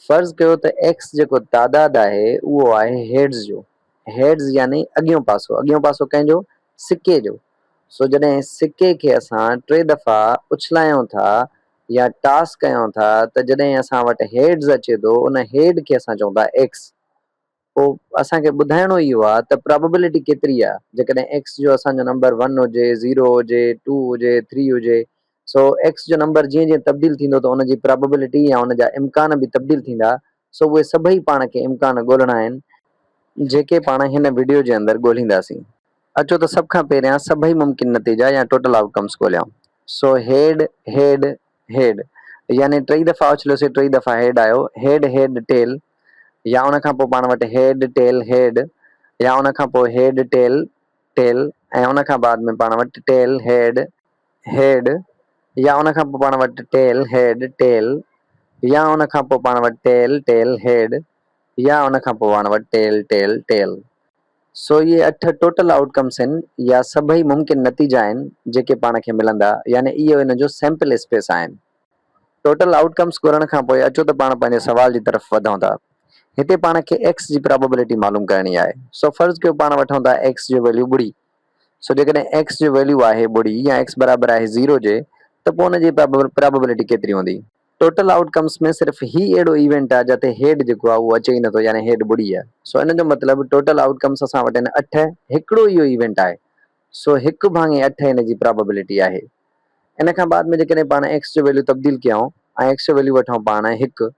فرض ڪيو ته ايڪس جيڪو تعداد آهي اهو آهي هيڊز جو، هيڊز يعني اڳيون پاسو، اڳيون پاسو ڪنهن جو؟ سڪي جو، سو جڏهن سڪي کي اسان ٽي دفعا اڇلايون ٿا يا ٽاس ڪيون ٿا ته جڏهن اسان وٽ هيڊز اچي ٿو ان هيڊ کي اسان چئون ٿا ايڪس، پوء اسان کي ٻڌائڻو ئي اهو آهي ته پرابيبلٽي ڪيتري آهي جيڪڏهن ايڪس جو اسان جو نمبر ون هجي، زيرو هجي، ٽو هجي، ٿري هجي. سو ايڪس جو نمبر جيئن جيئن تبديل ٿيندو ته ان جي پرابيبلٽي يا ان جا امڪان به تبديل ٿيندا. سو اهي سڀئي پاڻ کي امڪان ڳولهڻا آهن. جيڪي پاڻ هن وڊيو جي اندر ڳولهينداسين. اچو ته سڀ کان پهريان سڀئي ممڪن نتيجا يا ٽوٽل آئوٽ ڪمس ڳولهيائون. سو هيڊ، هيڊ، هيڊ يعني ٽئي دفعا اڇليوسي ٽئي دفعا هيڊ آيو، هيڊ هيڊ ٽيل. يا ان کان پوء پاڻ وٽ هيڊ، ٽيل، هيڊ يا ان کان پوء هيڊ، ٽيل، ٽيل ۽ ان کان بعد ۾ پاڻ وٽ ٽيل، هيڊ، هيڊ يا ان کان پوء پاڻ وٽ ٽيل، هيڊ، ٽيل يا ان کان پوء پاڻ وٽ ٽيل، ٽيل، هيڊ يا ان کان پوء پاڻ وٽ ٽيل، ٽيل، ٽيل. سو اهي اٺ ٽوٽل آئوٽ ڪمس هن يا سڀئي ممڪن نتيجا آهن جيڪي پاڻ کي ملندا يعني اهو ان جو سيمپل اسپيس آهن. ٽوٽل آئوٽ ڪمس ڳولڻ کان پوء اچو ته پاڻ پنهنجي سوال جي طرف وڌون ٿا. هتي پاڻ کي ايڪس جي پرابيبلٽي معلوم ڪرڻي آهي. سو فرض ڪيو پاڻ وٺون ٿا ايڪس جو ويليو ٻڙي. سو جيڪڏهن ايڪس جو ويليو آهي ٻڙي يا ايڪس برابر آهي زيرو جي ته پوء ان جي پرابيبلٽي ڪيتري هوندي؟ ٽوٽل آئوٽ ڪمس ۾ صرف هي اهڙو ايونٽ آهي جتي هيڊ جيڪو آهي اهو اچي ئي نٿو يعني هيڊ ٻڙي آهي. سو ان جو مطلب ٽوٽل آئوٽ ڪمس اسان وٽ هن اٺ هڪڙو ئي اهو ايونٽ آهي. سو هڪ ڀاڱي اٺ ان جي پرابيبلٽي آهي. ان کان بعد ۾ جيڪڏهن پاڻ ايڪس جو ويليو تبديل ڪيائون ۽ ايڪس جو ويليو وٺون پاڻ هڪ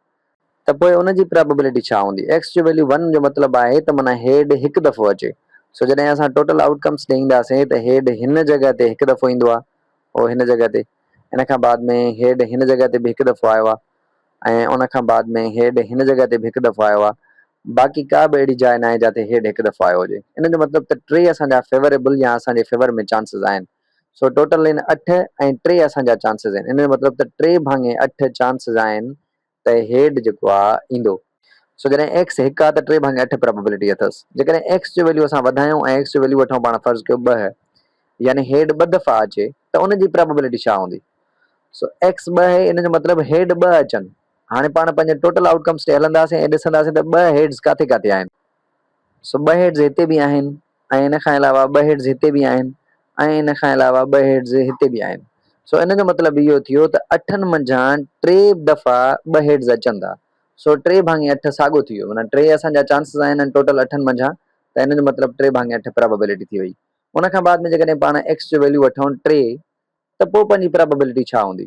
ته پوء ان جي پرابيبلٽي ڇا هوندي؟ ايڪس جو ويليو ون جو مطلب آهي ته معنيٰ هيڊ هڪ دفعو اچي. سو جڏهن اسان ٽوٽل آئوٽ ڪمس ڏي اينداسين ته هيڊ هن جڳهه تي هڪ دفعو ايندو آهي اهو هن جڳهه تي ان کان بعد ۾ هيڊ هن جڳهه تي به هڪ دفعو آيو آهي ۽ ان کان بعد ۾ هيڊ هن جڳهه تي به هڪ دفعو آيو آهي باقي ڪا به اهڙي جاء ناهي جاتي هيڊ هڪ دفعو آيو هجي. ان جو مطلب ته ٽي اسان جا فيوريبل يا اسان جي فيور ۾ چانسز آهن. سو ٽوٽل ان اٺ ۽ ٽي اسان جا چانسز آهن ان جو مطلب ته ٽي ڀاڱي اٺ چانسز آهن ته هيڊ جيڪو آ ايندو. سو جڏهن ايڪس هڪ آ ته ٽي ڀاڱي اٺ پرابيبلٽي اٿس جيڪڏهن ايڪس جو ويليو اسان وڌايون ۽ ايڪس جو ويليو وٺون پاڻ فرض ڪيو ٻه يعني هيڊ ٻه دفعا اچي ته ان جي پرابيبلٽي ڇا هوندي سو ايڪس ٻه آهي ان جو مطلب هيڊ ٻه اچن هاڻي پاڻ پنهنجي ٽوٽل آئوٽ ڪمس ڏي هلنداسين ۽ ڏسنداسين ته ٻه هيڊز ڪاٿي ڪاٿي آهن سو ٻه هيڊز هتي به آهن ۽ ان کان علاوه ٻه هيڊز هتي به آهن ۽ ان کان علاوه ٻه هيڊز هتي به آهن. سو ان جو مطلب اهو ٿيو ته اٺن منجهان ٽي دفعا ٻه هيڊز اچن ٿا. سو ٽي ڀاڱي اٺ ساڳو ٿي ويو. معنيٰ ٽي اسان جا چانسز آهن ان ٽوٽل اٺن منجهان ته ان جو مطلب ٽي ڀاڱي اٺ پرابيبلٽي ٿي وئي. ان کان بعد ۾ جيڪڏهن پاڻ ايڪس جو ويليو وٺون ٽي ته پوء پنهنجي پرابيبلٽي ڇا هوندي؟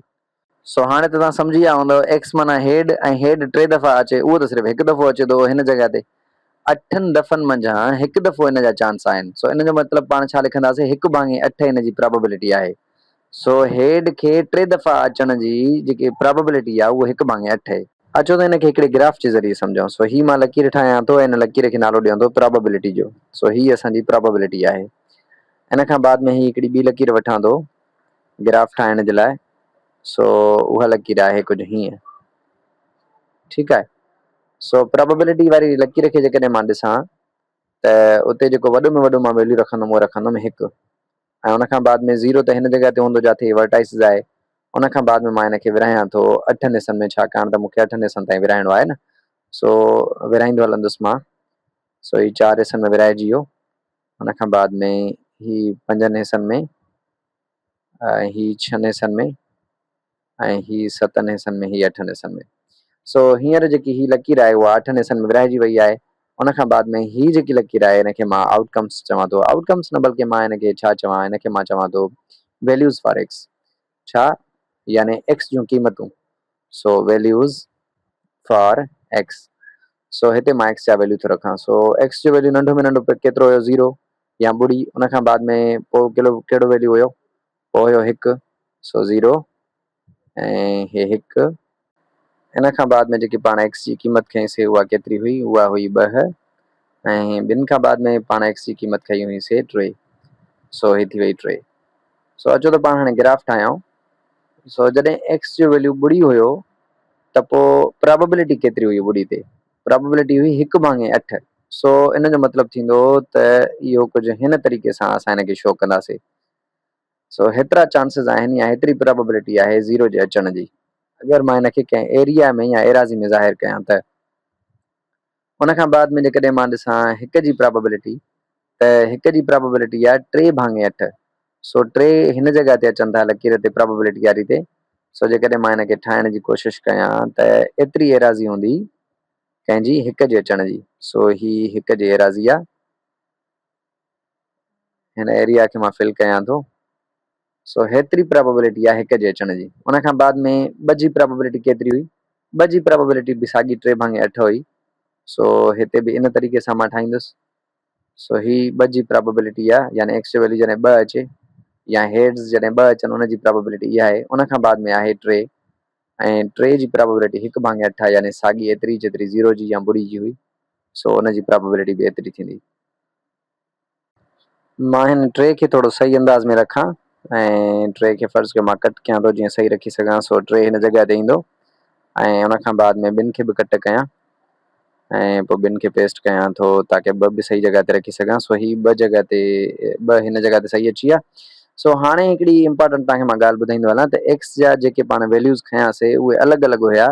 سو هاڻي ته توهان سمجهي ويا هوندؤ ايڪس معنيٰ هيڊ ۽ هيڊ ٽي دفعا اچي اهو ته صرف هڪ دفعو اچي ٿو هن جڳهه تي اٺن دفعن منجهان هڪ دفعو ان جا چانس آهن سو ان جو مطلب پاڻ ڇا لکنداسين هڪ ڀاڱي اٺ ان جي پراببلٽي آهي سو هيڊ کي ٽي دفعا اچڻ جي جيڪي پراببلٽي آهي اهو هڪ ڀاڱي اٺ اهي. اچو ته ان کي هڪڙي گراف جي ذريعي سمجهون سو هي مان لڪير ٺاهيان ٿو ۽ ان لڪير کي نالو ڏيون ٿو پراببلٽي جو سو هي اسان جي پراببلٽي آهي ان کان بعد ۾ هي هڪڙي ٻي لڪير وٺان ٿو گراف ٺاهڻ جي لاء سو اها لڪير آهي ڪجهه هيئن ٺيڪ آهي سو پرابيبلٽي واري لڪير کي جيڪڏهن مان ڏسان ته اتي جيڪو وڏو ۾ وڏو مان ويليو رکندم اهو رکندم هڪ ۽ ان کان بعد ۾ زيرو ته هن جڳهه تي هوندو جاٿي ورٽائسز آهي ان کان بعد ۾ مان هن کي ورهايان ٿو اٺن حصن ۾ ڇاڪاڻ ته مون کي اٺن حصن تائين ورهائڻو آهي نه سو ورهائيندو هلندس مان سو هي چار حصن ۾ ورهائجي ويو ان کان بعد ۾ هي پنجن حصن ۾ ۽ هي ڇهن حصن ۾ ۽ هي ستن حصن ۾ هي اٺن حصن ۾ سو هينئر جيڪي هي لڪير آهي اها اٺن حصن ۾ ورهائجي وئي آهي ان کان بعد ۾ هي جيڪي لڪير آهي هن کي مان آئوٽ ڪمس چوان ٿو آئوٽ ڪمس نه بلڪه مان هن کي ڇا چوان هن کي مان چوان ٿو ويليوز فار ايڪس ڇا يعني X جون قيمتون سو Values for X سو هتي مان X جا ويليو ٿو رکان سو X جو ويليو ننڍو ۾ ننڍو پڪ ڪيترو هيو زيرو يا ٻڙي ان کان بعد ۾ پو ڪهڙو ويليو هيو پو هيو هڪ سو زيرو ۽ هي هڪ ان کان بعد ۾ جيڪي پاڻ ايڪس جي قيمت کنئي سي اها ڪيتري هئي؟ اها هئي ٻه ۽ ٻن کان بعد ۾ پاڻ ايڪس جي قيمت کنئي هئي سي ٽي سو هي ٿي وئي ٽي. سو اچو ته پاڻ هاڻي گراف ٺاهيائون. سو جڏهن ايڪس جو ويليو ٻڙي هيو ته پوء پراببلٽي ڪيتري هئي ٻڙي تي؟ پراببلٽي هئي هڪ ڀاڱي اٺ. سو ان جو مطلب ٿيندو ته اهو ڪجهه هن طريقي سان اسان هن کي شو ڪنداسي. سو هيترا چانسز آهن يا هيتري پراببلٽي آهي زيرو جي اچڻ جي اگر مان ان کي ڪنهن ايريا ۾ يا ايراضي ۾ ظاهر ڪيان ته ان کان بعد ۾ جيڪڏهن مان ڏسان هڪ جي پراببلٽي ته هڪ جي پراببلٽي آهي ٽي ڀاڱي اٺ سو ٽي هن جڳهه تي اچن ٿا لڪير تي پراببلٽي واري تي سو جيڪڏهن مان ان کي ٺاهڻ جي ڪوشش ڪيان ته ايتري ايراضي هوندي ڪنهن جي هڪ جي اچڻ جي سو هي هڪ جي ايراضي آهي. هن ايريا کي مان فل ڪيان ٿو سو هيتري پرابيبلٽي آهي هڪ جي اچڻ جي ان کان بعد ۾ ٻه جي پرابيبلٽي ڪيتري هئي ٻه جي پرابيبلٽي به ساڳي ٽي ڀاڱي اٺ هئي سو هتي به ان طريقي سان مان ٺاهيندس سو هي ٻه جي پرابيبلٽي آهي يعني ايڪس جو ويليو جڏهن ٻه اچي يا هيڊز جڏهن ٻه اچن ان جي پرابيبلٽي اها آهي ان کان بعد ۾ آهي ٽي ۽ ٽي جي پرابيبلٽي هڪ ڀاڱي اٺ آهي يعني ساڳي ايتري جيتري زيرو جي يا ٻڙي جي هئي سو ان جي پرابيبلٽي به ايتري ٿيندي مان هن ٽري کي ٿورو صحيح انداز ۾ رکان ۽ ٽري کي فرض ڪيو مان ڪٽ ڪيان ٿو جيئن صحيح رکي سگهان سو ٽري هن جڳهه تي ايندو ۽ ان کان بعد ۾ ٻن کي به ڪٽ ڪيان ۽ پوء ٻن کي پيسٽ ڪيان ٿو تاڪي ٻه به صحيح جڳهه تي رکي سگهان سو هي ٻه جڳهه تي ٻه هن جڳهه تي صحيح اچي ويا سو هاڻي هڪڙي امپارٽنٽ توهان کي مان ڳالهه ٻڌائيندو هلان ته ايڪس جا جيڪي پاڻ ويليوز کنياسي اهي الڳ الڳ هيا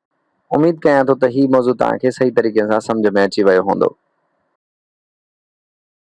اميد ڪيان ٿو ته هي موضوع توهان کي صحيح طريقي سان سمجهه ۾ اچي ويو هوندو.